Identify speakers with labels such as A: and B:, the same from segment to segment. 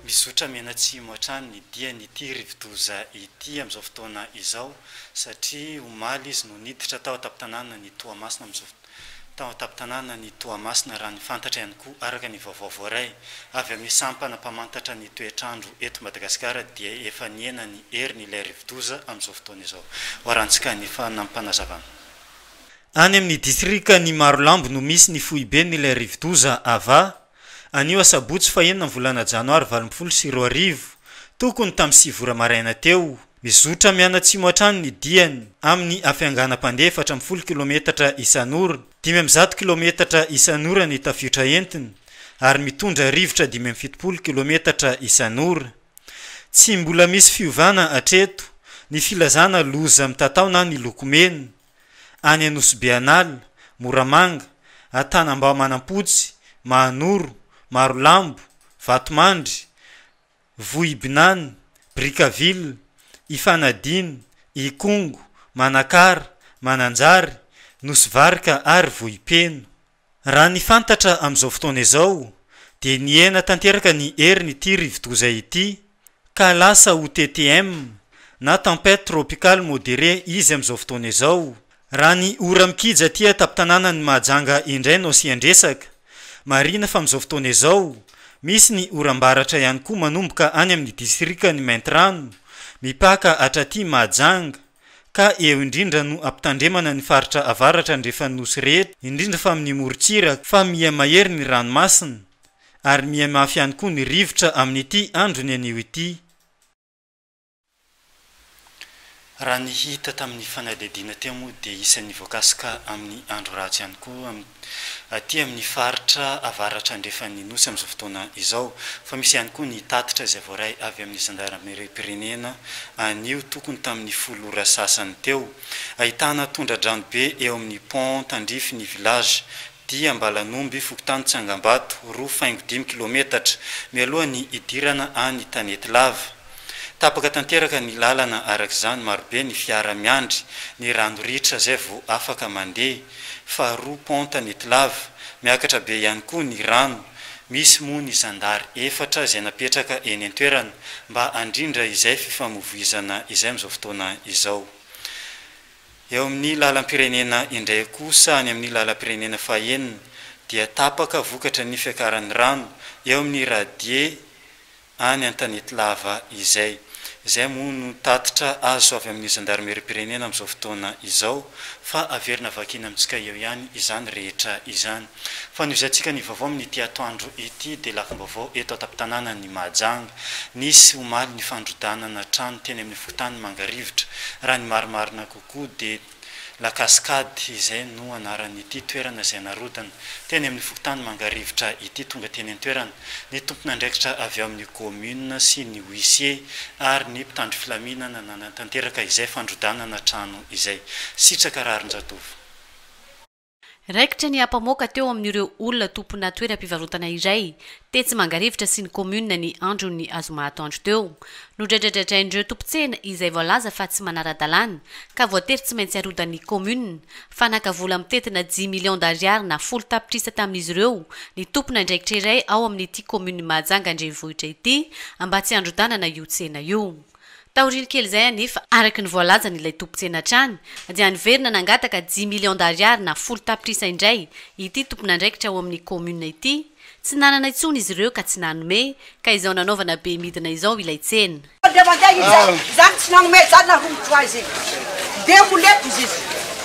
A: Mizotra mianatsimo hatrany ny dian'ity rivodoza ity amin'izao fotoana izao satria omaly izy no niditra tao an-tampon-tanànan'i Toamasina amin'izao fotoana izao. tao an-tampon-tanàna ny Toamasina, raha ny fantatra ihany koa araka ny vaovao voaray avy amin'ny sampana mpamantatra ny toetr'andro eto Madagasikara dia efa nihena ny heriny ilay rivodoza amin'izao fotoana izao. Hoarantsika ny fanampim-panazavana. Any amin'ny distrikan'i Marolambo no misy ny foiben'ilay rivodoza Ava. Anio asabotsy fahenina ny volana janoary valo ambin'ny folo sy roa arivo, tokony tamin'ny sivy ora maraina teo, mizotra mianatsimo hatrany ny diany amin'ny hafianganam-pandeha efatra ambin'ny folo kilometatra isan'ora, dimy amby zato kilometatra isan'ora ny tafiotra entiny ary mitondra rivotra dimy amby fitopolo kilometatra isan'ora. Tsy mbola misy fiovana hatreto ny filazana loza mitatao na miloko mena. any Anosibe An'ala, Moramanga, Antanambao Manampotsy, Mahanoro, Marolambo, Vatomandry, Vohibinany, Brickaville, Ifanadina, Ikongo, Manakara, Mananjary, Nosy Varika ary Vohipeno. Raha ny fantatra amin'izao fotoana izao dia nihena tanteraka ny herin'ity rivodoza ity ka lasa ho TTM na Tempête Tropicale Modérée izy amin'izao fotoana izao. Raha ny ora mikija aty an-tampon-tanànan'i Mahajanga indray no asian-dresaka, marihina fa amin'izao fotoana izao misy ny oram-baratra ihany koa manomboka any amin'ny distrikan'i Maintirano mipaka hatraty Mahajanga, ka eo indrindra no ampitandremana ny faritra avaratra andrefan'ny Nosy rehetra, indrindra fa amin'ny morontsiraka, fa miha mahery ny ranomasina, ary miha mafy ihany koa ny rivotra amin'ity androny anio ity. Raha ny hita tamin'ny fanadihadiana teo moa dia isan'ny voakasika amin'ny andro ratsy ihany koa amin'ny. aty amin'ny faritra avaratra andrefan'ny Nosy amin'izao fotoana izao, fa misy ihany koa ny tatitra izay voaray avy amin'ny zandarimariam-pirenena anio tokony tamin'ny folo ora sasany teo. Ahitana tondra-drano be eo amin'ny pont tandrify ny village Dia Ambalanomby, fokontany Tsangambato, roa faingo dimy kilometatra, mialoha ny hidirana any Tanety Lava. Tapaka tanteraka ny lalana araka izany, marobe ny fiara miandry ny rano ritra izay vao afaka mandeha. Faharoa ponta ny Tlava, miakatra be ihany koa ny rano. Misy moa ny zandary efatra izay napetraka eny an-toerana mba handrindra izay fifamoivoizana izay amin'izao fotoana izao. Eo amin'ny lalam-pirenena indray kosa, any amin'ny lalam-pirenena fahenina dia tapaka vokatry ny fiakaran'ny rano eo amin'ny radier, any an-tanety lava izay. Izay moa no tatitra azo avy amin'ny zandarimeriam-pirenena amin'izao fotoana izao fa averina vakina amintsika eo ihany izany rehetra izany. Fa noho izay tsika ny vaovao amin'ity atoandro ity dia lafim-baovao eto an-tampon-tanànan'i Mahajanga. Nisy omaly ny fandrodanana trano teny amin'ny fokontany Mangarivotra. Raha ny marimarina kokoa dia. La Cascade, izay no anaran'ity toerana izay narodana, teny amin'ny fokontany Mangarivotra ity. Tonga teny an-toerana ny tompon'andraikitra avy ao amin'ny kaominina sy ny huissier ary ny mpitandro filaminana nanatanteraka izay fandrodanana trano izay. Sitraka rarin-jatovo.
B: Raikitra ny ampamoaka teo amin'ireo olona tompona toeram-pivarotana iray, tetsy Mangarivotra sy ny kaominina ny andron'ny azoma atoandro teo. Nodraidradradrain'ireo tompon-tsena izay voalaza fa tsy manara-dalàna, ka voatery tsy maintsy arodan'ny kaominina. Fanaka vola mitentina dimy millions d'ariary na folo tapitrisa tamin'izy ireo ny tompon'andraikitra iray ao amin'ity kaominin'i Mahajanga an-drenivohitra ity, mba tsy handrodanana io tsena io. Taoriany kely izay anefa, araka ny voalazan' ilay tompon-tsena hatrany, dia niverina nangataka dimy millions d'ariary na folo tapitrisa indray ity tompon'andraikitra ao amin'ny kaominina ity, tsy nanana intsony izy ireo ka tsy nanome, ka izao nanaovana be midina izao ilay tsena. Dia mandehana izy izany, izany tsy nanome izany na roa mintsy ho azy dia ho lefy izy.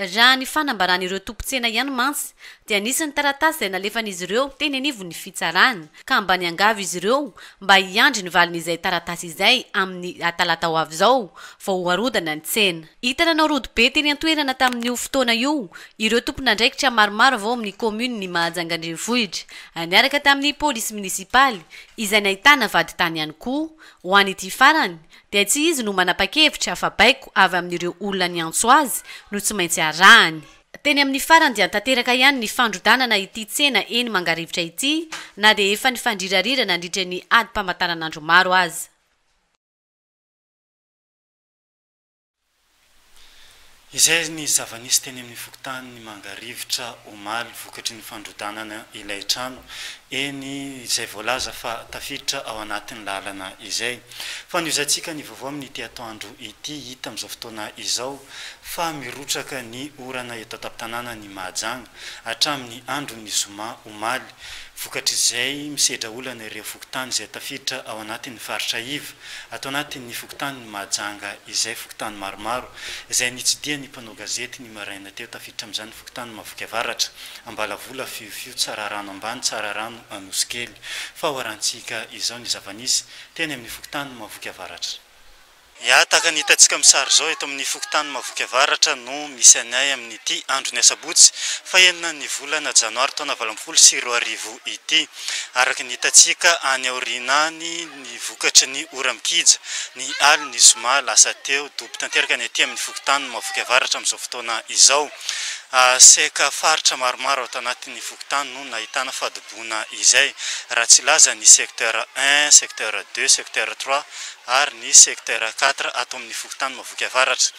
B: Raha ny fanambaran'ireo tompon-tsena ihany mantsy dia nisy ny taratasy izay nalefan'izy ireo teny anivon'ny fitsarana ka mba niangavy izy ireo mba hiandry ny valin'izay taratasy izay amin'ny talata ho avy izao vao ho arodana ny tsena. Hita nanao rodo be teny an-toerana tamin'io fotoana io ireo tompon'andraikitra maromaro avy ao amin'ny kaominin'i Mahajanga Andrenivohitra niaraka tamin'ny polisy minisipaly izay nahitana vadintany ihany koa ho an'ity farany dia tsy izy no manapa-kevitra fa baiko avy amin'ireo olona niantso azy no tsy maintsy arahany. Teny amin'ny farany dia tanteraka ihany ny fandrodanana ity tsena eny Mangarivotra ity na dia efa nifandrirarira nandritra ny adim-pamataranandro maro aza.
A: Izay ny zava-nisy teny amin'ny fokontany Mangarivotra omaly vokatry ny fandrodanana ilay trano eny izay voalaza fa tafiditra ao anatin'ny lalana izay. Fanohizantsika ny vaovao amin'ity atoandro ity. Hita amin'izao fotoana izao fa mirotsaka ny orana eto an-tampon-tanànan'i Mahajanga hatramin'ny andron'ny zoma omaly. Vokatr'izay, misedra olana ireo fokontany izay tafiditra ao anatin'ny faritra iv. Ato anatin'ny fokontanin'i Mahajanga izay fokontany maromaro izay nitsidihan'ny mpanao gazety ny maraina teo tafiditra amin'izany fokontany Mahavoky Avaratra, Ambalavola, Fiofio, Tsararano Ambany, Tsararano, Anosikely. Fahawarantsika izao ny zava-nisy teny amin'ny fokontany Mahavoky Avaratra. Ya, tahaka ny hitantsika amin'ny sary izao, eto amin'ny fokontany Mahavoky Avaratra no misy an'i Ahy amin'ity andron'ny asabotsy faha enina ny volana janoary taona valo ambin'ny folo sy roa arivo ity. Araka ny hitantsika any aoriana any ny vokatry ny ora mikija ny alin'ny zoma lasa teo, dobo tanteraka ny aty amin'ny fokontany Mahavoky Avaratra amin'izao fotoana izao. Seka faritra maromaro ao tanatin'ny fokontany no nahitana fadobohana. fihiboboana izay, raha tsy laza ny secteur un, secteur deux, secteur trois ary ny secteur quatre ato amin'ny fokontany Mahaboky Avaratra.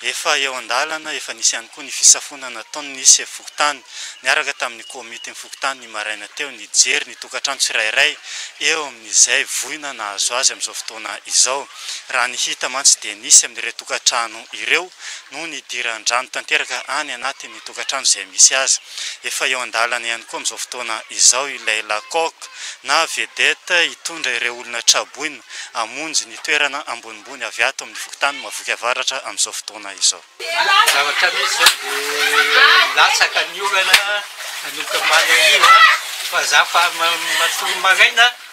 A: Efa eo an-dalana, efa nisy ihany koa ny fisafoana nataon'ny sefo fokontany niaraka tamin'ny komitin'ny fokontany ny maraina teo nijery ny tokantrano tsirairay eo amin'izay voina nahazo azy amin'izao fotoana izao. Raha ny hita mantsy dia nisy amin'ireo tokantrano ireo no nidiran-drano tanteraka any anatin'ny tokantrano izay misy azy. Efa eo an-dalana ihany koa amin'izao fotoana izao ilay La Coque na vedette hitondra ireo olona tra-boina hamonjy ny toerana ambonimbony avy ato amin'ny fokontany Mahaviky Avaratra amin'izao fotoana izao. Ny zavatra misy
C: izao dia latsaka ny orana manomboka maraina hariva fa za fa matoa maraina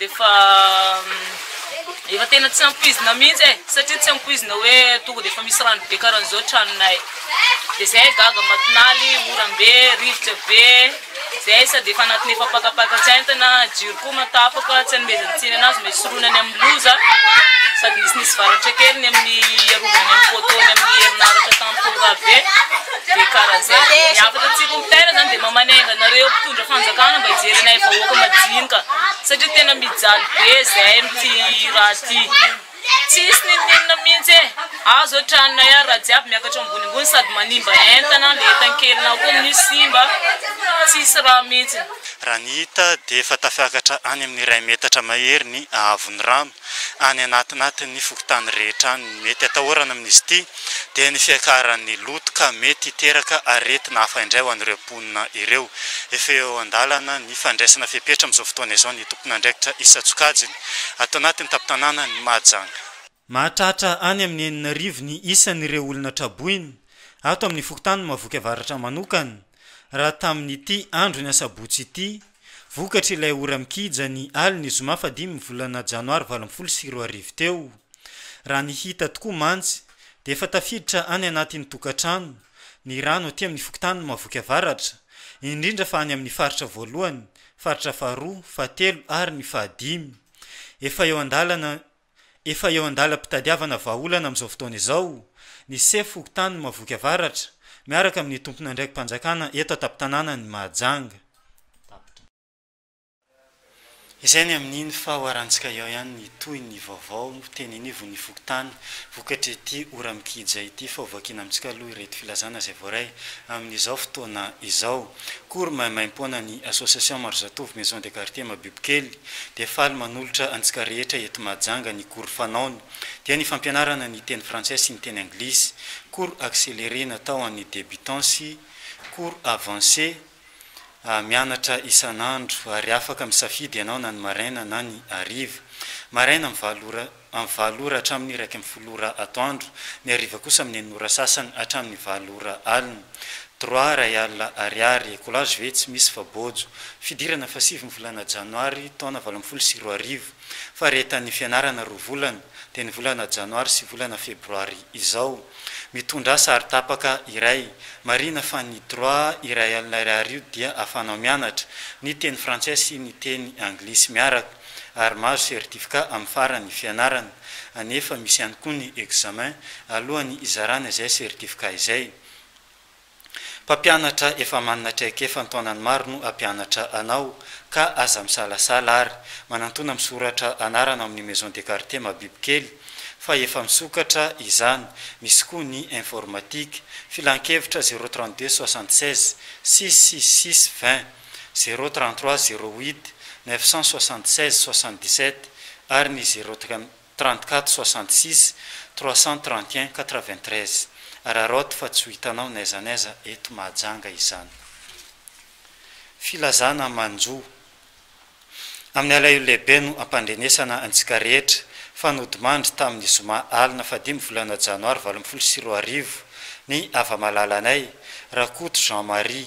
D: Efa efa tena tsy ampoizina mihitsy e, satria tsy ampoizina hoe tonga dia efa misy rano be karan'izao tranonay. Dia izay gaga matinaly, oram-be, rivotra be, izay sady efa anatin'ny efa pakapaka tsy aintana, jiro koa ma tapaka, tsy anomezana tsiny anazy mba hisorohana ny amin'ny loza, sady nisy nisy varatra kely ny amin'ny hiarovana ny amin'ny poteau-ny amin'ny herinaratra tamin'ny feo rava be. Be karazana. Ny hafatra tsy rompitaina zany dia mamanenga anareo mpitondra fanjakana mba hijery anay vahoaka majinika satria tena mijaly be zahay amin'ity raha ity. Tsisy n'inon'inona mihitsy e! Ao zao tranonay ao raha jiaby miakatra ambonimbony sady manimba entana, ny entan-kelinao koa amin'io simba, tsisy rano mihitsy. Raha ny hita
A: dia efa tafiakatra any amin'ny iray metatra mahery ny haavon'ny rano. any anatinatin'ny fokontany rehetra any. Ny mety atahorana amin'izy ity dia ny fiakaran'ny loto ka mety hiteraka aretina hafa indray ho an'ireo mponina ireo. Efa eo an-dalana ny fandraisana fepetra amin'izao fotoana izao ny tompon'andraikitra isan-tsokajiny ato anatin'ny tampon-tanànan'i Mahajanga. Mahatratra any amin'ny enina arivo ny isan'ireo olona traboina ato amin'ny fokontany Mahavoky Avaratra manokana raha tamin'ity andron'ny asabotsy ity Vokatr'ilay ora mikija ny alin'ny zoma fahadimy ny volana janoary valo ambin'ny folo sy roa arivo teo, raha ny hita tokoa mantsy dia efa tafiditra any anatin'ny tokantrano ny rano aty amin'ny fokontanin'i Mahaboky Avaratra, indrindra fa any amin'ny faritra voalohany, faritra faharoa, fahatelo ary ny fahadimy. Efa eo an-dalana Efa eo an-dalam-pitadiavana vahaolana amin'izao fotoana izao ny sefo fokontanin'i Mahavoky Avaratra miaraka amin'ny tompon'andraiki-panjakana eto an-tampon-tanànan'i Mahajanga. Izay ny amin'iny fa hoharantsika eo ihany ny tohin'ny vaovao teny anivon'ny fokontany vokatr'ity ora mikija ity fa hovakina amintsika aloha ireto filazana izay voaray amin'izao fotoana izao. Kory maimaimpoana ny Association Maro Zatovo Maison de Quartier Mabibokely, dia faly manolotra antsika rehetra eto Mahajanga ny cours fanaony, dia ny fampianarana ny teny frantsay sy ny teny anglisy, cours accéléré natao ho an'ny débutants sy cours avancé, mianatra isan'andro, ary afaka misafidy ianao na ny maraina na ny hariva. Maraina amin'ny valo ora amin'ny valo ora hatramin'ny iraika ambin'ny folo ora atoandro, ny hariva kosa amin'ny enina ora sasany hatramin'ny valo ora alina. Droit iray alina Ariary, écolage ve tsy misy fa bojo. Fidirana fahasivy ny volana janoary taona valo ambin'ny folo sy roa arivo. Faharetan'ny fianarana roa volana, dia ny volana janoary sy volana febroary izao. Mitondra asa ary tapaka iray. Marihina fa ny droit iray alina ariary io dia ahafahanao mianatra, ny teny frantsay sy ny teny anglisy miaraka. ary mahazo certificat amin'ny faran'ny fianarana, anefa misy ihany koa ny examen alohan'ny hizarana izay certificat izay. Mpampianatra efa manana traikefa an-taonany maro no hampianatra anao, ka aza misalasala ary manantona misoratra anarana ao amin'ny maison de quartier mabibikely fa efa misokatra izany, misy koa ny informatique. Filankevitra zéro trente deux soixante seize six six six vingt. zéro trente trois zéro huit neuf cent soixante seize soixante dix sept ary ny zéro trente quatre soixante six trois cent trente et un quatre vingt treize. Araraoty fa tsy ho hitanao n'aiza n'aiza eto Mahajanga izany. Filazana manjo. Amin'ny alahelo lehibe no ampandrenesana antsika rehetra fa nodimandry tamin'ny zoma alina fahadimy volana janoary valo ambin'ny folo sy roa arivo ny hava-malalanay, Rakoto Jean Marie,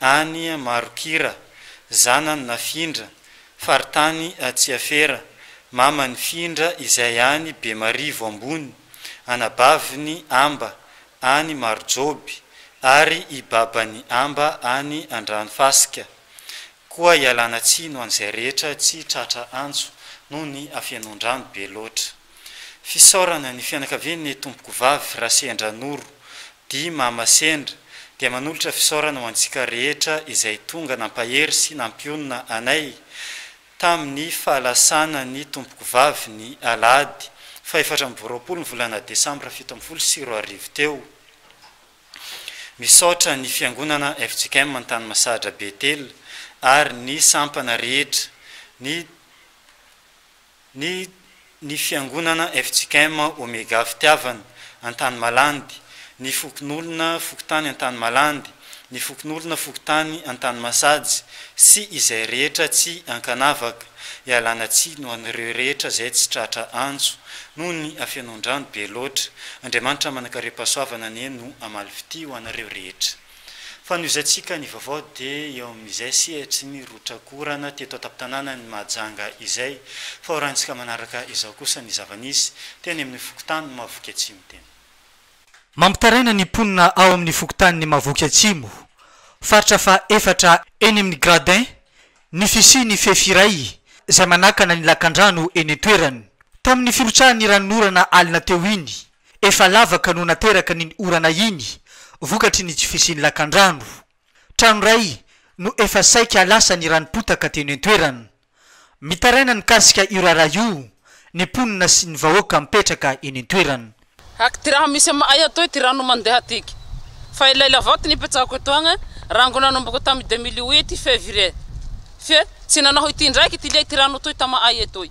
A: any Marokira, zanany Nafindra, faritany Tsiafera, mamany Findra izay any Bemarivo Ambony, anabaviny Amba, any Marojoby, ary i babany Amba any Andranofasika. Koa ialana tsiny ho an'izay rehetra tsy tratra antso noho ny hafenoan-drano be loatra. Fisaorana ny fianakavian' ny Tompoko Vavy Rasendra Noro Di Mama Sendra dia manolotra fisaorana ho antsika rehetra izay tonga nampahery sy nampionona anay tamin' ny fahalasanan' ny Tompoko Vavy ny alahady fahefatra amby roapolo ny volana desambra fito ambin'ny folo sy roa arivo teo. Misaotra ny Fiangonana fjkm Antanimasahadra Betela ary ny sampana rehetra, ny. Ny ny fiangonana fjkm Omega Fitiavana, Antanimalandy, ny fokonolona fokontany Antanimalandy, ny fokonolona fokontany Antanimasajy sy izay rehetra tsy ankanavaka, ialana tsiny ho an'ireo rehetra izay tsy tratra antso noho ny afenoan-drano be loatra. Andriamanitra manankarem-pahasoavana anie no hamaly fitia ho anareo rehetra. Fanohizantsika ny vaovao dia eo amin'izay sehatry ny rotrakorana teto an-tampon-tanànan'i Mahajanga izay. Fahorantsika manaraka izao kosa ny zava-nisy teny amin'ny fokontany Mahavoky Atsimo teny. Mampitaraina
E: ny mponina ao amin'ny fokontanin'i Mahavoky Atsimo, faritra faha efatra eny amin'ny Gradins ny fisian'ny fefy iray izay manakana ny lakandrano eny an-toerany. Tamin'ny firotsahan'ny ranon'orana alina teo iny Efa lavaka no nateraka ny orana iny vokatry ny tsy fisian'ny lakandrano. Trano iray no efa saika lasa ny ranom-potaka teny an-toerana. Mitaraina mikasika io raharaha io ny mponina sy ny vahoaka mipetraka eny an-toerana. Haky ty raha misy
F: ama'ay atoy ty rano mandeha tiky. Fa ilay lavaty nipetrahako etoagne, rango nanomboko tamy deux mille huit février. Fe, tsy nanao ity indraike ty liay ty rano toy tama'ay etoy.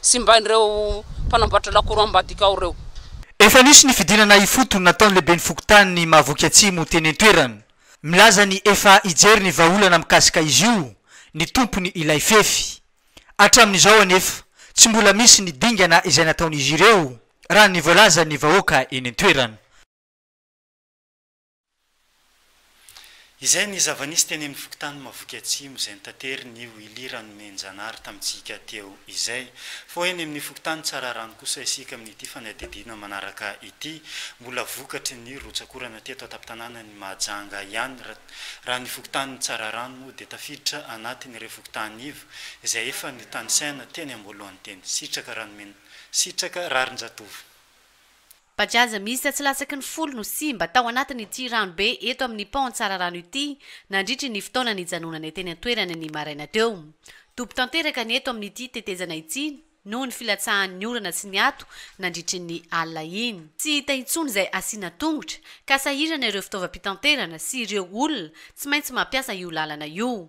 F: Simbain'ireo mpanamboatra lakoro ambadika ao ireo. Efa nisy ny
E: fidinana ifotony nataon'ny lehiben'ny fokontany Mahavoky Atsimo teny an-toerana. Milaza ny efa hijery ny vahaolana mikasika izy io ny tompony ilay fefy. Hatramin'izao anefa, tsy mbola misy ny dingana izay nataon'izy ireo, raha ny voalazan'ny vahoaka eny an-toerana.
A: Izay ny zava-nisy teny amin'ny fokontany Mahavoky Atsimo izay notaterin'io Willy Ranomenijanahary tamintsika teo izay. Fa eny amin'ny fokontany Tsararano kosa isika amin'ity fanadihadiana manaraka ity. Mbola vokatry ny rotsak'orana teto an-tampon-tanànan'i Mahajanga ihany raha ny fokontanin'i Tsararano moa dia tafiditra anatin'ireo fokontany iva izay efa notanisaina teny am-boalohany teny. Sitraka Ranomena Sitraka Raharinjatovo. Fa
B: tsy aza mihisa tsy latsaky ny folo no simba tao anatin' ity ranobe eto amin' ny pont Antsararano ity nandritry ny fotoana nijanonany teny an-toerana ny maraina teo. Dobo tanteraka ny eto amin' ity tetezana ity noho ny filatsahan' ny orana sy ny ato nandritry ny alina iny. Tsy hita intsony izay asiana tongotra, ka sahirana ireo fitaovam-pitanterana sy ireo olona tsy maintsy mampiasa io lalana io.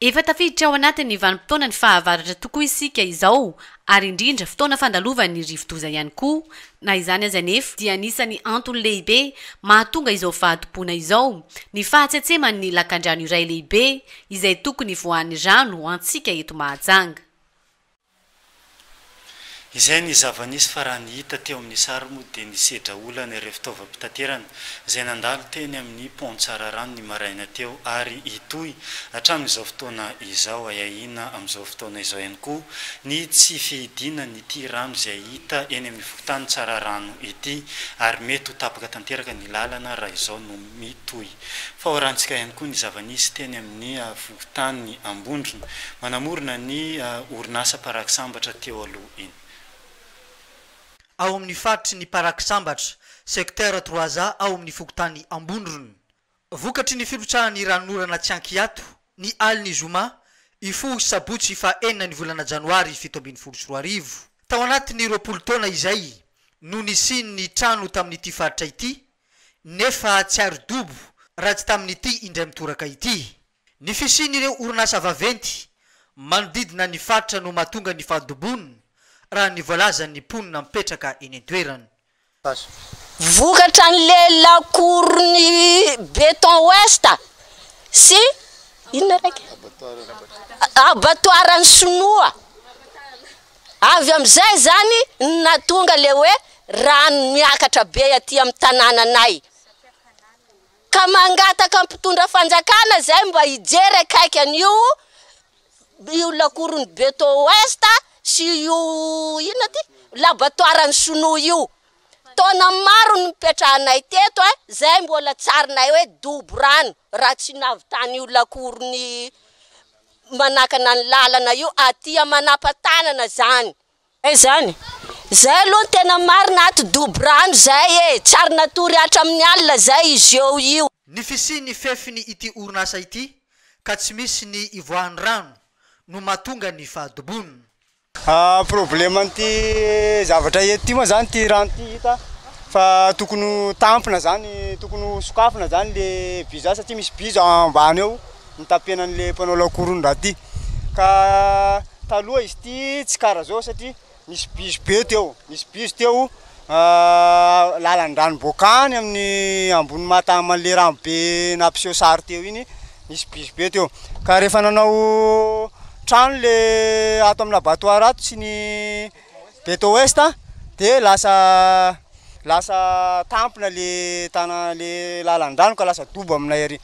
B: Efa tafiditra ao anatin'ny vanim-potoana ny fahavaratra tokoa isika izao ary indrindra fotoana fandalovan'ny rivodoza ihany koa. Na izany aza anefa dia anisan'ny antony lehibe mahatonga izao fahadiboana izao ny fahatsetseman'ny lakandrano iray lehibe izay tokony voahan'ny rano ho antsika eto Mahajanga.
A: Izay ny zava-nisy fa raha ny hita teo amin'ny sary moa dia nisedra olana ireo fitaovam-pitaterana izay nandalo teny amin'ny Pont Tsararano ny maraina teo ary hitohy hatramin'izao fotoana izao. Ahiahiana amin'izao fotoana izao ihany koa ny tsy fihidiana an'ity rano izay hita eny amin'ny fokontany Tsararano ity ary mety ho tapaka tanteraka ny lalana raha izao no mitohy. Fahaorantsika ihany koa ny zava-nisy teny amin'ny fokontany Ambondrona, manamorona ny orinasa paraky sambatra teo aloha iny.
E: Ao amin'ny faritry ny paraky sambatra, secteur trois A ao amin'ny fokontany Ambondrona. Vokatry ny firotsahan'ny ranon'orana tsy ankiato, ny alin'ny zoma, hifoha sy sabotsy faha enina ny volana janoary fito ambin'ny folo sy roa arivo. Tao anatin'ny roapolo taona izay no nisian'ny trano tamin'ity faritra ity, nefa tsy ary dobo raha tsy tamin'ity indray mitoraka ity. Ny fisian'ireo orinasa vaventy manodidina ny faritra no mahatonga ny fahadobony, raha ny voalazan'ny mponina mipetraka eny an-toerana.
G: Vokatran'ilay lakoron'i Beton Ouest sy inona raika? Abatoaran'ny Sinoa. Avy amin'izay izany no nahatonga ilay hoe rano miakatra be aty amin'ny tanànanay. Ka mangataka ny mpitondra fanjakana izay mba hijery akaiky an'io io lakoron'ny Beton Ouest sy io inona ity? labatoaran'ny sinoa io. Taona maro no nipetrahanay teto a, izay mbola tsarinay hoe dobo rano raha tsy nahavitana io lakoron'ny manakana ny lalana io atia manapatanana zany. Zay zany. Zay aloha ny tena marina ato Doborano zay e! Tsy ary natory hatramin'ny alina zay izy eo io. Ny fisian'ny
E: fefiny ity orinasa ity ka tsy misy ny ivoahan'ny rano no mahatonga ny fahadobony.
H: Problème an'ity zavatra eto ity moa zany ity rano ity hita fa tokony ho tampina zany tokony ho sokafina zany le vy zany satria misy vy zao ambany ao mitapena an'le mpanao lakoron'ny raha ty ka taloha izy ity tsy kara zao satria nisy bizy be teo nisy bizy teo lalan-drano boaka any amin'ny ambony mata aman'ilay rano be nampiseho sary teo iny nisy biby be teo ka rehefa nanao trano le ato amin'ny abattoir ato sy ny beto ouest a dia lasa lasa tampina le tana le lalan-drano ka lasa dobo aminay ary.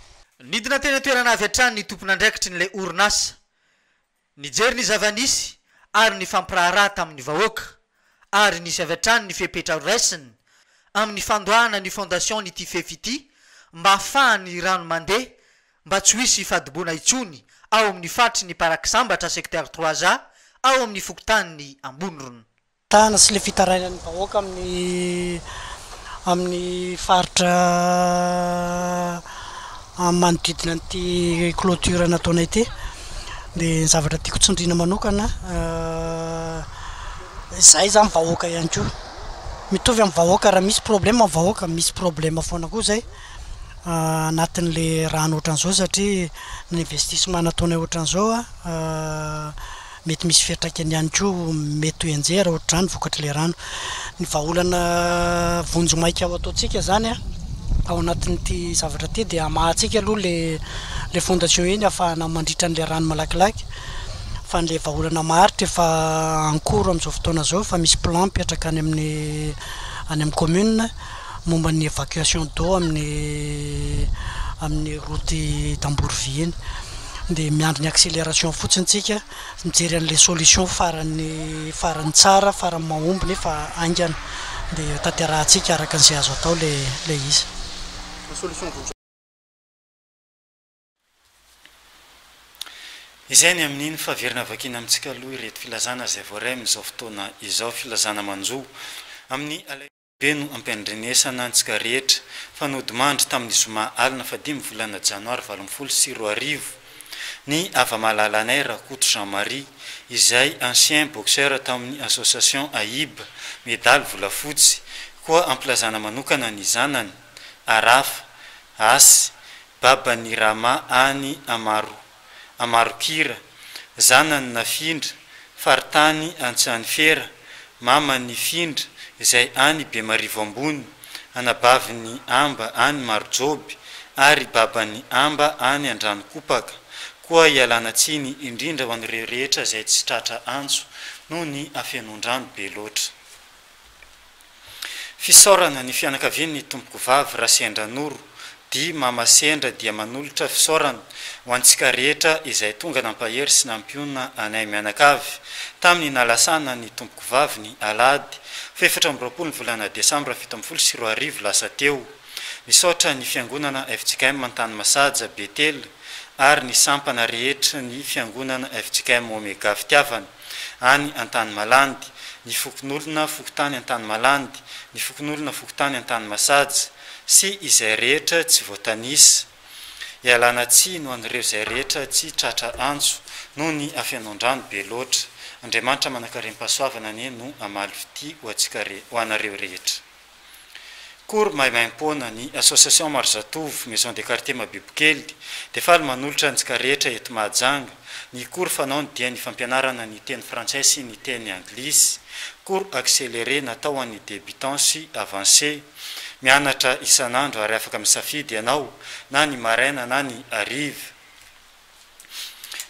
H: Nidina teny an-toerana
E: avy hatrany ny tompon'andraikitry ny ilay orinasa Nijery ny zava-nisy ary nifampiraharaha tamin'ny vahoaka ary nisy avy hatrany ny fepetra horaisiny amin'ny fandoahana ny fondation'ity fefy ity mba hahafahan'ny rano mandeha mba tsy ho hisy fadimboana intsony ao amin'ny faritry ny Parak'Isambatra secteur trois A ao amin'ny fokontanin'i Ambonirona. Tana sy le
I: fitarainan'ny vahoaka amin'ny amin'ny faritra manodidina an'ity clôture nataonay ity de ny zavatra tiako tsindriana manokana izahay zany vahoaka ihany koa mitovy amin'ny vahoaka raha misy problème ny vahoaka misy problème foana koa zay anatin'le rano ohatran'izao satria ny investissement nataonay ohatran'izao Mety misy fiantraikany ihany koa mety ho enjehera ohatr'izany vokatr'ilay rano. Ny vahaolana vonjimaika ao ataontsika izany ao anatin'ity zavatra ity dia hamaha antsika aloha ilay fondation iny hahafahana mandritra an'ilay rano malakilaky fa ilay vahaolana maharitra efa en cours amin'izao fotoana izao efa misy plan mipetraka any amin'ny any amin'ny commune momba ny évacuation d'eau amin'ny amin'ny route tambory vy iny dia miandry ny accélération fotsiny tsika mijery an'ilay solution farany farany tsara farany mahomby nefa haingana dia tanterahantsika araka an'izay azo atao ilay ilay izy ny solution vonjy
A: Izay ny amin'iny fa averina avakiana amintsika aloha ireto filazana izay voaray amin'izao fotoana izao, filazana manjo amin'ny alaivo. be no ampiandrenesana antsika rehetra fa nodimandry tamin'ny zoma alina fahadimy volana janoary valo ambin'ny folo sy roa arivo ny hava-malalanay Rakoto Jean Marie izay ancien boxeur tamin'ny association AIB medaly volafotsy koa ampilazana manokana ny zanany Arafa Asy baban'ny Rama any Amaroa Amarokira, zanany Nafindra, faritany Antsanifera, mamany Findra izay any Bemarivo Ambony, anabavin'i Amba any Marojoby ary baban'i Amba any Andranokopaka. Koa ialana tsiny indrindra ho an'ireo rehetra izay tsy tratra antso noho ny hafenoan-drano be loatra. Fisaorana ny fianakavian' ny Tompokovavy Raseandranoro di Mama Sendra dia manolotra fisaorana ho antsika rehetra izay tonga nampahery sy nampionona anay mianakavy tamin'ny nalasanan' ny Tompokovavy ny Alahady fahefatra amby roapolo ny volana Desambra fito ambin'ny folo sy roa arivo lasa teo. Misaotra ny Fiangonana fjkm Antanimasaja Betela ary ny sampana rehetr' ny Fiangonana fjkm Omega Fitiavana. any Antanimalandy, ny fokonolona fokontany Antanimalandy, ny fokonolona fokontany Antanimasaja sy izay rehetra tsy voatanisa. Ialana tsiny ho an'ireo izay rehetra tsy tratra antso noho ny hafenoan-drano be loatra. Andriamanitra manankarem-pahasoavana anie no hamaly fitia ho antsika, ho anareo rehetra. Akory maimaimpoana, ny Association Marizatovo, Maison de Quartier Mabibokely, dia faly manolotra antsika rehetra eto Mahajanga. Ny cours fanaony dia ny fampianarana ny teny frantsay sy ny teny anglisy. Cours accéléré natao ho an'ny débutants sy avancés. Mianatra isan'andro ary afaka misafidy ianao na ny maraina na ny hariva.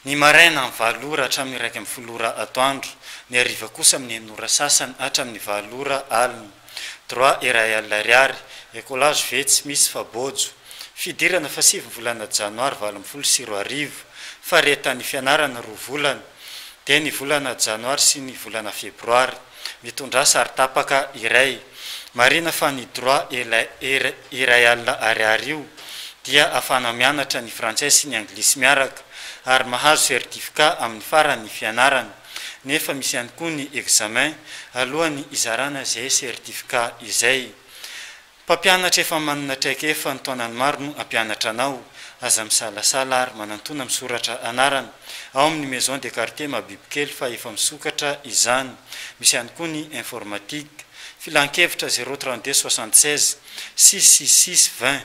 A: Ny maraina amin'ny valo ora hatramin'ny iraika ambin'ny folo ora atoandro, ny hariva kosa amin'ny enina ora sasany hatramin'ny valo ora alina. Droit iray alina ariary, Ecolage ve tsy misy fa bojo. Fidirana fahasivy ny volana janoary valo ambin'ny folo sy roa arivo, faharetan'ny fianarana roa volana, dia ny volana janoary sy ny volana febroary. Mitondrà sary tapaka iray. Marina fa ny droit et la er iray alina ariary io dia afahana mianatra ny frantsay sy ny anglisy miaraka ary mahazo certificat amin'ny faran'ny fianarana. Nefa misy ihany koa ny examen alohan'ny izarana izay certificat izay. Mpampianatra efa manana traikefa ny taonany maro no hampianatra anao. Aza misalasala ary manantona misoratra anarana ao amin'ny Maison de Quartier Mabibikely fa efa misokatra izany. Misy ihany koa ny informatique. Filankevitra, zéro trente deux soixante seize six six six vingt.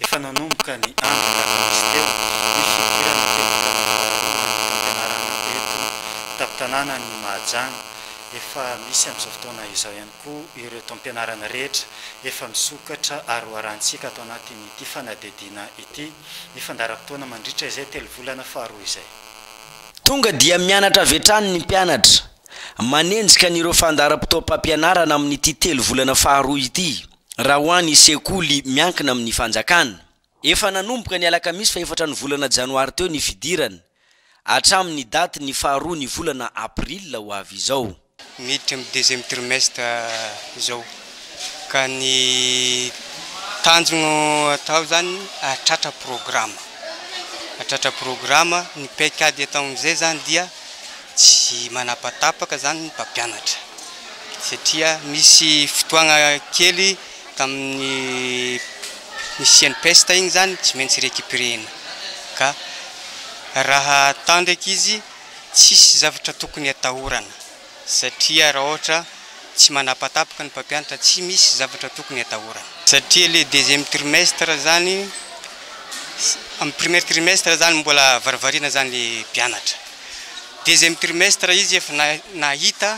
A: Efa nanomboka ny andro alakamisy teo ny fidirana telo taona faharoa amin'ny fampianarana eto an-tampon-tanànan'i Mahajanga. Efa misy amin'izao fotoana izao ihany koa ireo taom-pianarana rehetra efa misokatra ary hoarahantsika ato anatin'ity fanadihadiana ity ny fandaharam-potoana mandritra izay telo volana faharoa izay. Tonga
J: dia mianatra avy hatrany ny mpianatra, manenjika an'ireo fandaharam-potoam-pampianarana amin'ity telo volana faharoa ity. Raha ho an' ny sekoly miankina amin' ny fanjakana, efa nanomboka ny alakamisy fahefatra ny volana janoary teo ny fidirana, hatramin' ny datin' ny faharoa ny volana aprila ho avy izao. Miditra amin'ny deuxième
K: trimestre izao ka ny tanjona atao izany hahatratra programa, hahatratra programa. Ny paikady ataon'izay izany dia Tsy manapatapaka izany ny mpampianatra satria misy fotoagna kely tamin'ny nisian'ny peste igny zany tsy maintsy recuperer-na ka raha atao ndraiky izy tsisy zavatra tokony atahorana satria raha ohatra tsy manapatapaka ny mpampianatra tsy misy zavatra tokony atahorana satria le deuxième trimestre zany, am premier trimestre zany mbola varivarina zany le mpianatra. Deuxième trimestre izy efa nahita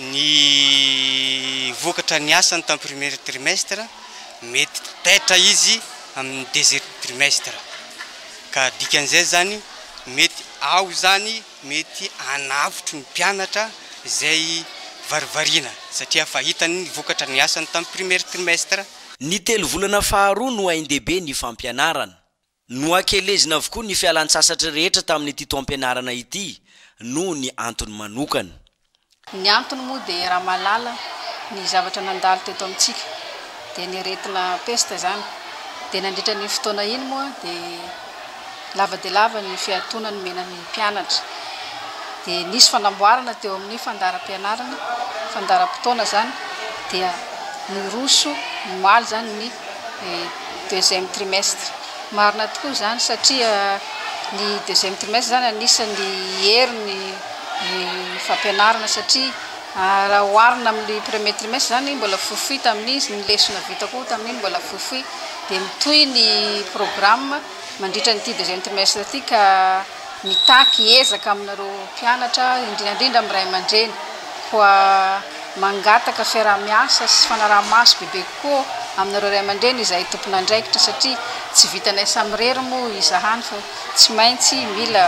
K: ny vokatra ny asany tamin'ny premier trimestre, mety taitra izy amin'ny deuxième trimestre ka dikan'izay zany mety ao zany mety hanavotra ny mpianatra izay varivarina satria efa hitany ny vokatra ny asany tamin'ny premier trimestre. Ny telovolana
J: faharoa no haindehibe ny fampianarana. Nohakelezina avokoa ny fialan-tsasatry rehetra tamin'ity taom-pianarana ity noho ny antony manokana. Ny
L: antony moa dia raha mahalala ny zavatra nandalo teto amintsika dia ny aretina pesta izany dia nandritra an'iny fotoana iny moa dia lava dia lava ny fiatoana nomena ny mpianatra dia nisy fanamboarana teo amin'ny fandaharam-pianarana, fandaharam-potoana izany dia niroso omaly izany ny ny deuxième trimestre. Marina tokoa izany satria ny deuxième trimestre izany anisan'ny hery ny fampianarana satria raha oharina amin'ny premier trimestre izany mbola fohifohy tamin'izy, ny lesona vita koa tamin'iny mbola fohifohy dia mitohy ny programme mandritra an'ity deuxième trimestre ity ka Mitaky ezaka aminareo mpianatra, indrindra indrindra amin'ny ray aman-dreny, koa mangataka fiaraha-miasa sy fanaraha-maso bebe kokoa aminareo ray aman-dreny izahay tompon'andraikitra satria tsy vitanay samirery moa izahany fa tsy maintsy mila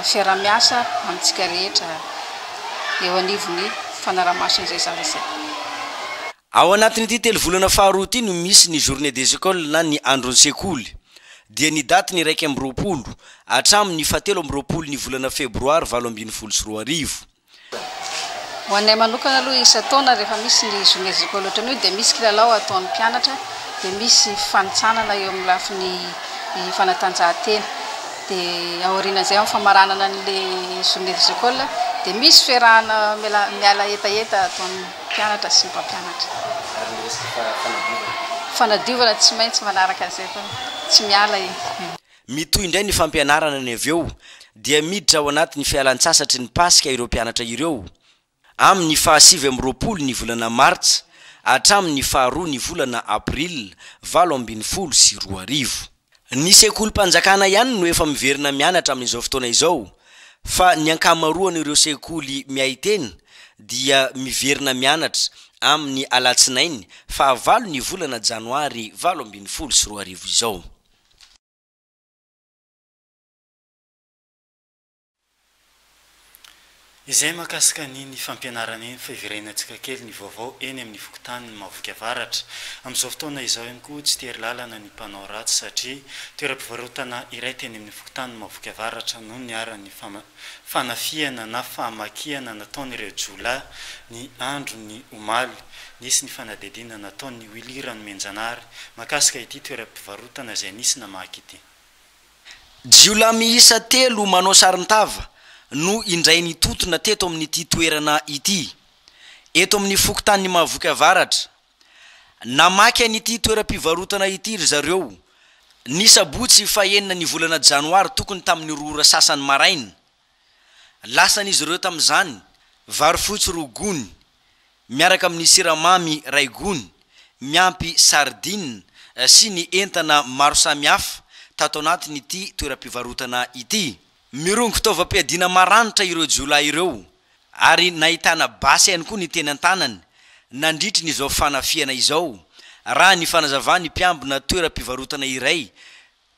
L: fiaraha-miasa amintsika rehetra eo anivon'ny fanaraha-maso an'izay zavatra izay.
J: Ao anatin'ity telovolana faharoa ity no misy ny Journée des Ecoles na ny Andron'ny Sekoly, dia ny daty ny iraika amby roapolo hatramin'ny fahatelo amby roapolo ny volana febroary valo ambin'ny folo sy roa arivo.
L: Ho anay manokana aloha isan-taona rehefa misy ny Journée des Ecoles ohatran'io dia misy kilalao ataon'ny mpianatra, dia misy fifanintsanana eo amin'ny lafiny fanatanjahantena. Dia aorianan'izay amin'ny famaranana an'ilay Journée des Ecoles dia misy fiarahana miala hetaheta ataon'ny. mpianatra sy ny mpampianatra. Ary ny resaka fanadiovana? Fanadiovana tsy maintsy manaraka an'izay fa tsy miala e. Mitohy
J: indray ny fampianarana ny avy eo dia miditra ao anatin'ny fialan-tsasatry ny Paska ireo mpianatra ireo. Amin'ny faha sivy amby roapolo ny volana Martsa hatramin'ny faha roa ny volana Aprila valo ambin'ny folo sy roa arivo. Ny sekolim-panjakana ihany no efa miverina mianatra amin'izao fotoana izao fa ny ankamaroan'ireo sekoly miahy tena dia miverina mianatra amin'ny alatsinainy fahavalo ny volana janoary valo ambin'ny folo sy roa arivo izao.
A: Izay mahakasika an'iny fampianarana iny fa iverenantsika kely ny vaovao eny amin'ny fokontanin'i Mahaboky Avaratra. Amin'izao fotoana izao ihany koa tsy tery lalana ny mpanao ratsy satria toeram-pivarotana iray teny amin'ny fokontanin'i Mahaboky Avaratra no niharan'ny fanafihana na famakiana nataon'ireo jiolahy ny andron'ny omaly. Nisy ny fanadihadiana nataon'i Willy Ranomenjanahary mahakasika ity toeram-pivarotana izay nisy namaky ity.
J: Jiolahy miisa telo manao saron-tava no indray nitontona teto amin'ity toerana ity, eto amin'ny fokontanin'i Mahavoky Avaratra. Namaky an'ity toeram-pivarotana ity ry zareo, ny sabotsy fahenina ny volana janoary tokony tamin'ny roa ora sasany maraina. Lasan'izy ireo tamin'izany, vary fotsy roa gony, miaraka amin'ny siramamy iray gony, miampy sardines sy ny entana maro samihafa tato anatin'ity toeram-pivarotana ity. Mirongo taovam-piadiana maranitra ireo jiolahy ireo ary nahitana basy ihany koa ny teny an-tanany nandritry ny izao fanafihana izao, raha ny fanazavan'ny mpiambina toeram-pivarotana iray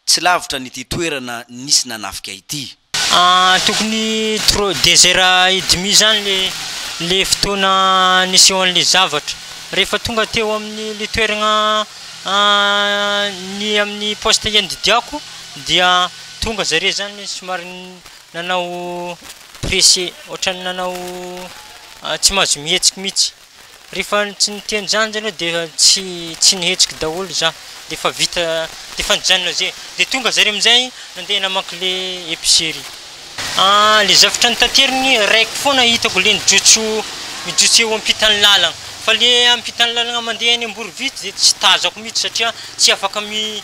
J: Tsy lavitra an'ity toerana nisy nanafika ity. Ah tokony
M: trop desera i dimy zany le le fotoana nisehoan'le zavatra. Rehefa tonga teo amin'ny le toeragna ny amin'ny poste iandidiako dia tonga zare zany somary nanao presse ohatrany nanao tsy mahazo mihetsiky mitsy. Rehefa tsy niteny izany zany aho dia tsy tsy nihetsiky daholo za dia efa vita dia efa nijanona zay dia tonga zare amizay nandeha namaky le epicerie. Ah le zavatra notateriny reko foana hitako le nijotso mijotso eo ampitan'ny lalagna fa le ampitan'ny lalagna mandeha any Amborovitsy de tsy tazako mitsy satria tsy afaka mi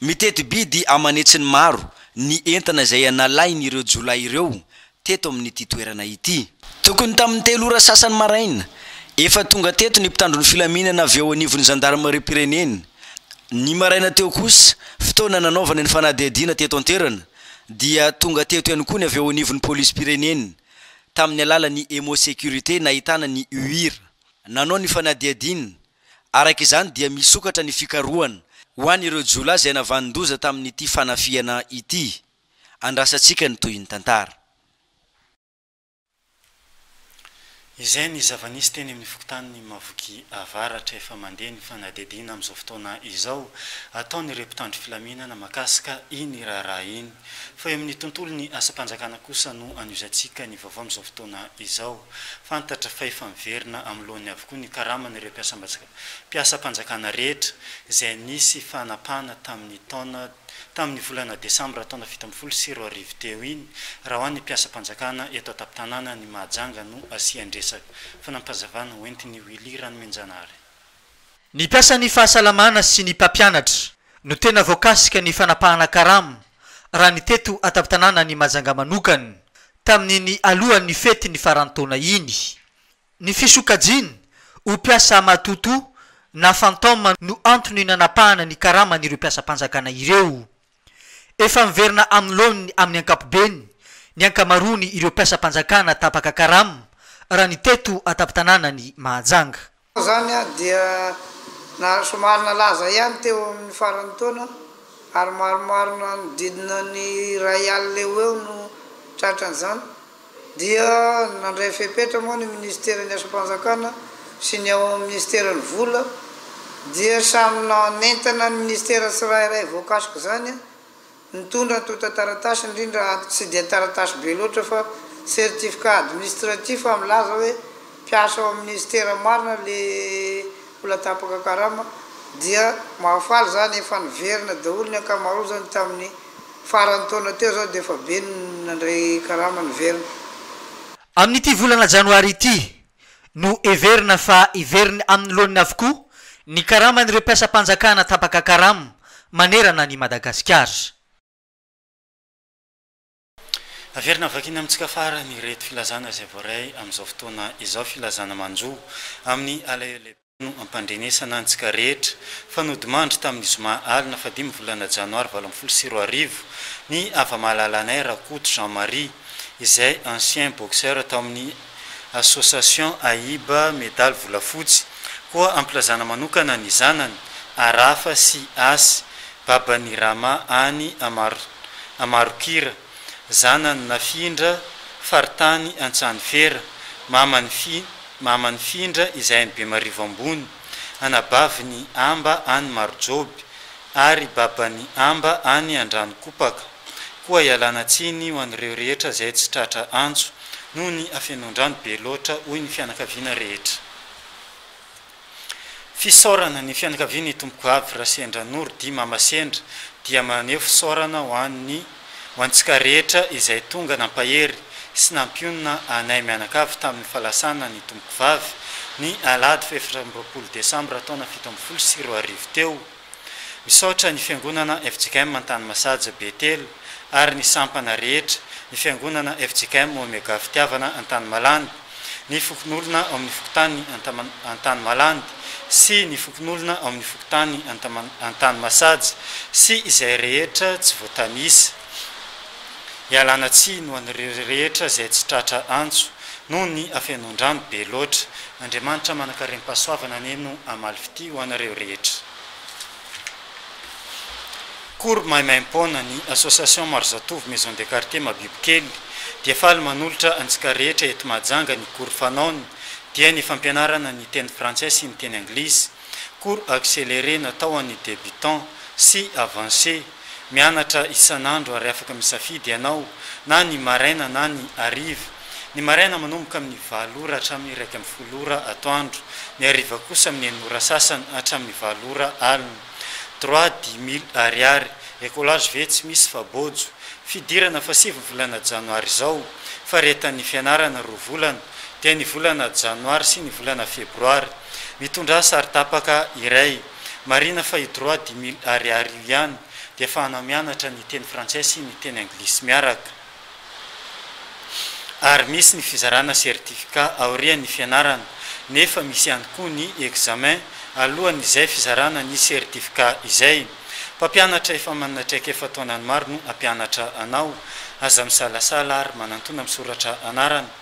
J: Miteti-bidy aman'hetsiny maro ny entana izay nalain'ireo jiolahy ireo teto amin'ity toerana ity. Tokony tamin'ny telo ora sasany maraina, efa tonga teto ny mpitandro ny filaminana avy ao anivon'ny zandarimariam-pirenena. Ny maraina teo kosa, fotoana nanaovana ny fanadihadiana teto an-toerana, dia tonga teto ihany koa ny avy ao anivon'ny polisim-pirenena, tamin'ny alalan'ny Emmo Sécurité nahitana ny UIR, nanao ny fanadihadiana. Araka izany dia misokatra ny fikarohana ho an'ireo jiolahy izay navanon-doza tamin'ity fanafihana ity. Andrasantsika ny tohin'ny tantara.
A: Izay ny zava-nisy teny amin'ny fokontanin'i Mavoky Avaratra. Efa mandeha ny fanadihadiana amin'izao fotoana izao ataon'ireo mpitandro filaminana mahakasika iny raharaha iny. Fa eo amin'ny tontolon'ny asam-panjakana kosa no anohizantsika ny vaovao amin'izao fotoana izao. Fantatra fa efa miverina amin'ny loany avokoa ny karaman'ireo mpiasam-panjakana rehetra izay nisy fanapahana tamin'ny taona tamin'ny volana desambra taona fito ambin'ny folo sy roa arivo teo iny raha ho an'ny mpiasam-panjakana eto an-tampon-tanàna ny Mahajanga no asian-dresaka. Fanampazavana hoentin'i Willy Ranomenjanahary. Ny
E: mpiasan'ny fahasalamana sy ny mpampianatra no tena voakasika ny fanapahana karama raha ny teto an-tampon-tanànan'i Mahajanga manokana tamin'iny alohan'ny fetin'ny faran'ny taona iny. Ny fisokajiany ho mpiasa matotoa na fantôme no antony nanapahana ny karaman'ireo mpiasam-panjakana ireo. Efa miverina amin'ny laoniny amin'ny ankapobeny ny ankamaroany ireo mpiasam-panjakana tapaka karama, raha ny teto an-tampon-tanànan'i Mahajanga. Koa izany
N: dia somary nalaza ihany teo amin'ny faran'ny taona ary maromaro nanodidina ny iray alina eo ho eo no tratran'izany dia nandray fepetra moa ny minisiteran'ny asam-panjakana sy ny ao amin'ny minisiteran'ny vola dia samy nanentana ny minisitera tsirairay voakasik'izany Nitondra antontan-taratasy indrindra ato tsy dia taratasy be loatra fa certificat administratif aho milaza hoe mpiasa ao amin'ny minisitera marina ilay olona tapaka karama dia mahafaly izany efa niverina daholo ny ankamarozany tamin'ny faran'ny taona teo izao dia efa be ny nandray karama niverina.
E: Amin'ity volana janoary ity no heverina fa heveriny amin'ny loaniny avokoa ny karaman'ireo mpiasam-panjakana tapaka karama manerana an'i Madagasikara.
A: Averina vakina amintsika farany ireto filazana izay voaray amin'izao fotoana izao, filazana manjo amin'ny alahelo lehibe. no ampandrenesana antsika rehetra fa nodimandry tamin'ny zoma alina fahadimy volana janoary valo ambin'ny folo sy roa arivo ny hava-malalanay Rakoto Jean Marie izay ancien boxeur tao amin'ny association AIB medaly volafotsy koa ampilazana manokana ny zanany Arafa sy Asy baban'ny Rama any Amarokira Zanany Nafindra, faritany Antsanivera, maman'i Fi, maman'i Findra izay any Bemarivo Ambony, anabavin'i Amba any Marojoby, ary baban'i Amba any Andranokopaka. Koa ialana tsiny ho an'ireo rehetra izay tsy tratra antso, noho ny hafenoan-drano be loatra, hoy ny fianakaviana rehetra. Fisaorana, Ny fianakavian' ny Tompokoavy Rasendra Noro dit Mama Sendra dia maneho fisaorana ho an'ny ho antsika rehetra izay tonga nampahery sy nampionona anay mianakavy tamin'ny falasana ny Tompokovavy ny alahady fahefatra amby roapolo desambra taona fito ambin'ny folo sy roa arivo teo. Misaotra ny Fiangonana fjkm Antanimasaja Betela ary ny sampana rehetra, ny Fiangonana fjkm Omega Fitiavana Antanimalandy, ny fokonolona ao amin'ny fokontany Antanimalandy sy ny fokonolona ao amin'ny fokontany Antanimasaja sy izay rehetra tsy voatanisa. Ialana tsiny ho an'ireo rehetra izay tsy tratra antso noho ny hafenon-drano be loatra. Andriamanitra manankarem-pahasoavana anie no hamaly fitia ho anareo rehetra. Cours maimaimpoana, Ny Association Maro Zatovo Maison de Quartier Mabibikely dia faly manolotra antsika rehetra eto Mahajanga ny cours fanaony dia ny fampianarana ny teny frantsay sy ny teny anglisy. Cours accéléré natao ho an'ny débutants sy avancés. Mianatra isan'andro ary afaka misafidy ianao na ny maraina na ny hariva. Ny maraina manomboka amin'ny valo ora hatramin'ny iraika amby folo ora atoandro, ny hariva kosa amin'ny enina ora sasany hatramin'ny valo ora alina. Droit dix mille Ariary, écolage ve tsy misy fa bojo. Fidirana fa sivy ny volana janoary izao, faharetan'ny fianarana roa volana, dia ny volana janoary sy ny volana febroary. Mitondrà sary tapaka iray. Marina fa i Droit dix mille ariary io ihany dia fahana mianatra ny teny frantsay sy ny teny anglisy miaraka. Ary misy ny fizarana certificat aorian' ny fianarana nefa misy ihany koa ny examen alohan' izay fizarana ny certificat izay. Mpampianatra efa manana traikefa taonany maro no hampianatra anao. Aza misalasala ary manantona misoratra anarana.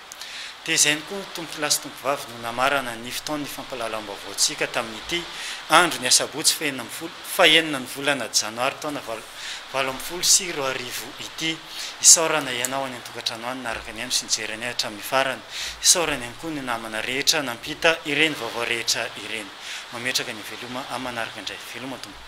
A: Tezainy koa ny tompolahy sy tompovavy no namarana ny fotoan'ny fampahalalam-baovaontsika tamin'ity andro ny asabotsy fahenina ambin'ny folo fahenina ny volana janoary taona valo ambin'ny folo sy roa arivo ity. Isaorana ianao any an-tokantrano any naraka ny ahy no sy nijery anay hatramin'ny farany. Isaorana ihany koa ny namana rehetra nampita ireny vaovao rehetra ireny. Mametraka ny veloma amin'ny manaraka indray. Veloma tompoko.